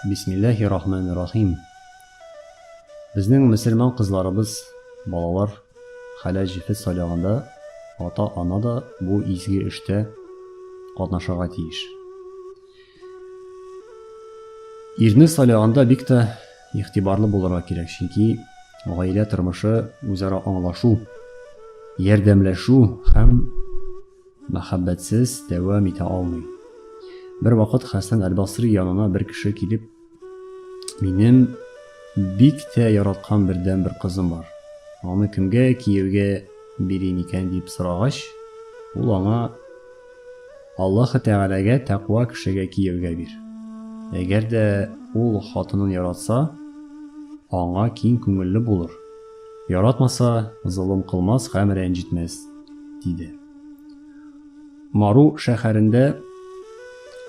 Бисмиллаһи рахмани рахим Безнең мөселман кызларыбыз, балалар, хәләл җефет сайлаганда ата-ана да бу изге эштә катнашырга тиеш. Ирне сайлаганда бик тә игътибарлы булырга кирәк, чөнки гаилә тормышы үзара аңлашу, ярдәмләшү һәм Мәхәббәтсез дәвам итә алмыйм. Бервакыт Хәсән әл-Басри янына бер кеше килеп, Минем бик тә яраткан бердәнбер кызым бар. Аны кемгә кияүгә бирим икән? дип сорагач, ул аңа, Аллаһы Тәгаләгә тәкъва кешегә кияүгә бир. Әгәр дә ул хатынын яратса, аңа киң күңелле булыр. Яратмаса, золым кылмас һәм рәнҗетмәс, диде. Мару шәһәрендә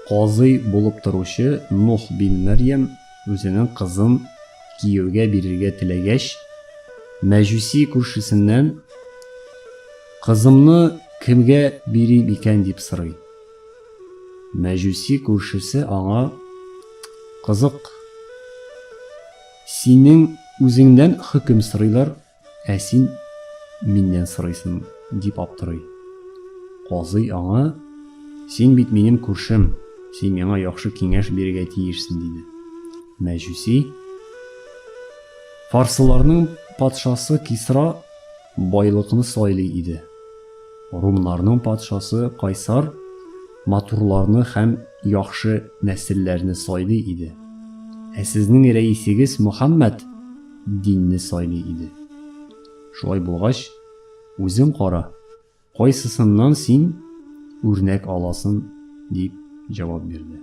казый булып торучы Нух бин Мәрьям үзенең кызын кияүгә бирергә теләгәч, мәҗүси күршесеннән, Кызымны кемгә бирим икән? дип сорый. Мәҗүси күршесе аңа, Кызык. Синең үзеңнән хөкем сорыйлар, ә син миннән сорыйсың, дип аптырый. Казый аңа, Син бит минем күршем, син миңа яхшы киңәш бирергә тиешсең, диде. Мәҗүси, Фарсыларның патшасы Кисра Байлыкны сайлый иде. Румнарның патшасы Кайсар матурларны һәм яхшы нәселләрне сайлый иде. Ә сезнең рәисегез Мөхәммәд динне сайлый иде. Шулай булгач, үзең кара, кайсысыннан син үрнәк аласын, дип җавап бирде.